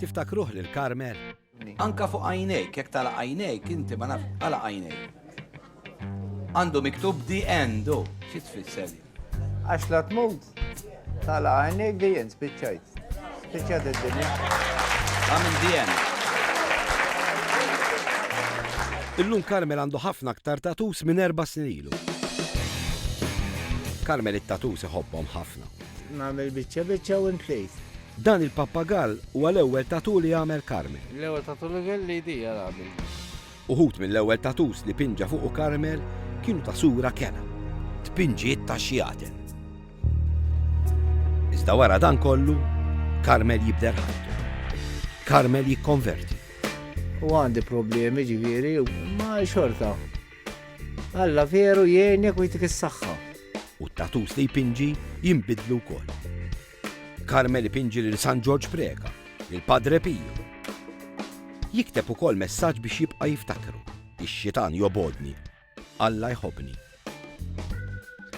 Tiftakruh lil Carmel? Anka fuq għajnejk, jekk tala għajnejk, inti ma naf, għala għajnejk. Għandu miktub di endu, xi tfisser? Għax la tmut, tala għajnejk di end, spiċċajt. Spiċċajt id-dinja. Għamil di end. Illum Karmel għandu ħafna aktar tatus minn erba' snin ilu. Karmel it-tatus iħobbhom ħafna. Nagħmel biċċa biċċa u ntlejt. Dan il-pappagall huwa l-ewwel tattoo li għamel Carmel. L-ewwel tattoo li kelli jdi għal abi. Uħud mill-ewwel tattoos li pinġa fuqu Carmel kienu ta' sura kena. Tpinġiet ta' xi għaten. Iżda wara dan kollu, Carmel jibder ħajtu. Carmel jikkonverti. U għandi problemi ġifieri, ma xorta. Alla veru jgħinek u jtik is-saħħa. U t-tatus li jpinġi jimbidlu wkoll. Carmel ipinġi lil San Ġorġ Preca, lil Padre Pio. Jikteb ukoll messaġġ biex jibqa' jiftakru, Ix-xitan jobgħodni, Alla jħobbni.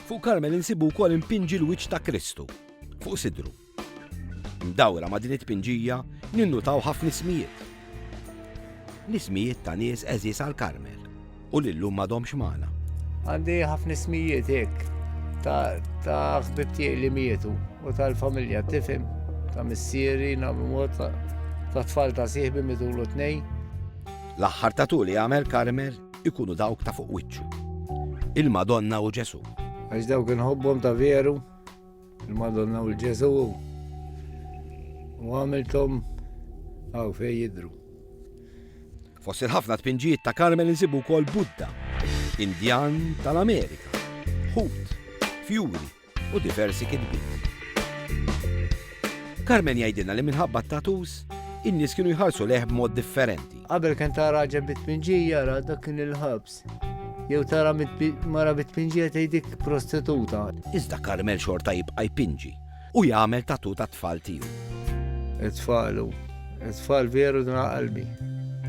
Fuq Carmel insibu wkoll impinġi l-wiċċ ta' Kristu, fuq sidru. Mdawra ma' din it-tpinġija ninnutaw ħafna ismijiet. L-ismijiet ta' nies għeżież għal Carmel. U li llum m'għadhomx magħna. Għandi ħafna ismijiet hekk ta' ħbib tiegħi li mietu u tal-familja tifhem ta' missieri nagħmlu mod ta' tfal ta' sieħbi midulu tnej. L-aħħar ta' tuli għamel Karmel ikunu dawk ta' fuq wiċċu. Il-Madonna u Ġesu. Għax dawk inħobbhom ta' veru. Il-Madonna u l-Ġesu u għamiltom għaw fej jidru. Fost il-ħafna tpinġijiet ta' Karmel insibu wkoll Buddha, Indjan tal-Amerika, ħut, fjuri u diversi kitbiet. Karmen jgħidilna li minħabba t-tatus, in-nies kienu jħarsu leħ b'mod differenti. Qabel kien ta' raġel bit-tpinġija, ra dak kien il-ħabs. Jew tara mara bitpinġija tgħidik prostituta. Iżda Karmel xorta jibqa' jpinġi u jagħmel tatu tat-tfal tiegħu. It-tfalu, it-tfal veru dna qalbi.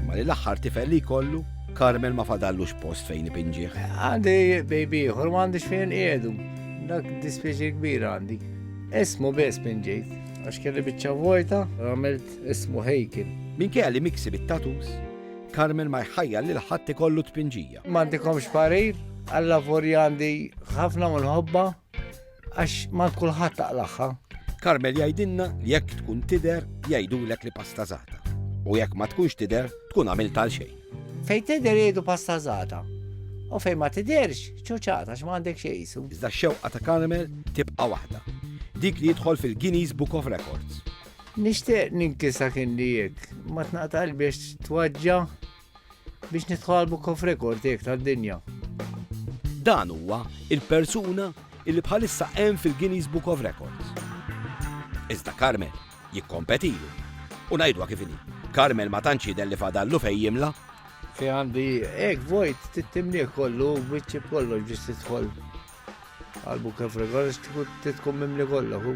Ma li l-aħħar tifel li jkollu, Karmel ma fadallux post fejn ipinġih. Għandi baby ieħor ma għandix fejn qiegħdu. Dak dispieċi kbir għandi. Ismu biss pinġejt, għax kelli biċċa vojta, għamilt ismu Hejkin. Minkejja li miksi bit-tatus, Carmen ma jħajjar lil ħadd ikollu tpinġija. M'għandikomx parir, alla vori għandi ħafna u nħobba għax ma kulħadd taqlaħħa. Carmel jgħidilna li jekk tkun tider jgħidulek li pasta zata. U jekk ma tkunx tider tkun għamil tal xejn. Fejn tider jgħidu pasta zata. U fejn ma tiderx, ċuċata x'ma għandek xejn jisu. Iżda xewqa ta' Carmel tibqa' waħda. Dik li jidħol fil-Guinness Book of Records. Nixtieq ninkisa kien li jek, ma tnaqta qalbi għax twaġġa biex nidħol Book of Record jek tad-dinja. Dan huwa il-persuna illi bħalissa hemm fil-Guinness Book of Records. Iżda Carmel jikkompetilu. U ngħidwa kif inhi. Carmel ma tantx jidher li fadallu fejn jimla. Fi għandi hekk vojt tittimnieh kollu biċċi kollu biex tidħol għal Book of Records tkun mimli kollu.